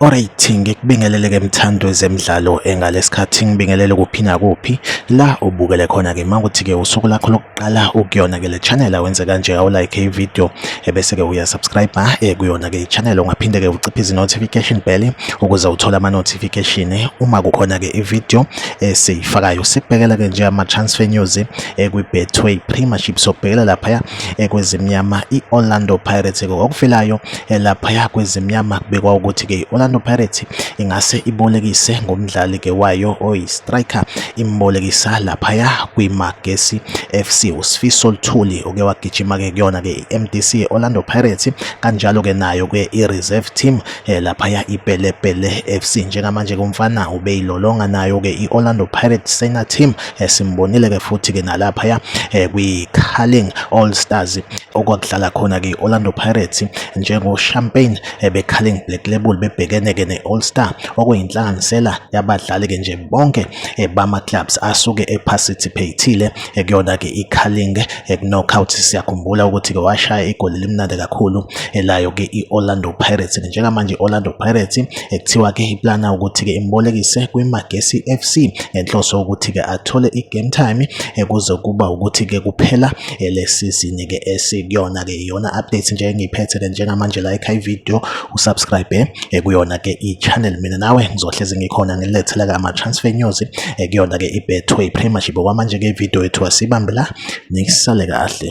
Alright ngikubingelele ke mthando zemidlalo engalesikhathi ngibingelele kuphi nakuphi la ubukele khona ke manguthi ke usuku lakho qala ukuyona ke le channel awenze kanje awu like i video ebese ke uya subscribe ha eh, kuyona ke i channel ungaphinde ke uciphe izi notification bell ukuze uthole ama notification eh, uma kukhona ke i video esiyifakayo eh, sibhekela ke nje ama transfer news ekwi Betway Premiership sobhekela lapha ya ekwezimnyama i Orlando Pirates ke okufilayo lapha ya kwezimnyama kubekwa ukuthi ke i Orlando Pirates ingase ibolekise ngomdlali ke wayo oyi-striker imbolekisa laphaya kwiMagesi FC uSifiso Luthuli oke wagijima ke kuyona ke i-MDC Orlando Pirates kanjalo ke nayo ke i-reserve team eh, laphaya iPelepele FC njengamanje kumfana ubeyilolonga nayo ke i-Orlando Pirates senior team esimbonile eh, ke futhi ke nalaphaya eh, kwi-Carling All Stars okwakudlala khona ke i-Orlando Pirates njengo-champagne ebeCarling eh, Black Label bebhekene-ke ne-All Star okuyinhlanganisela yabadlali-ke nje bonke eh, bama-clubs asuke eparticipatile eh, kuyona-ke iCarling knockout siyakhumbula ukuthi-ke washaya igoli elimnandi kakhulu elayo-ke i-Orlando Pirates njengamanje i-Orlando Pirates kuthiwa-ke iplana ukuthi-ke imbolekise kwiMagesi FC ngenhloso yokuthi-ke athole i-game time kuze kuba ukuthi-ke kuphela ele sizini ke esikuyona ke iyona update nje engiyiphethe ke njengamanje la ekhaya video usubscribe eh, kuyona ke i-channel mina nawe ngizohlezi ngikhona ngilethela ke ama-transfer news eh, kuyona ke i-betway premiership okwamanje ke video yethu asibambe la nisale kahle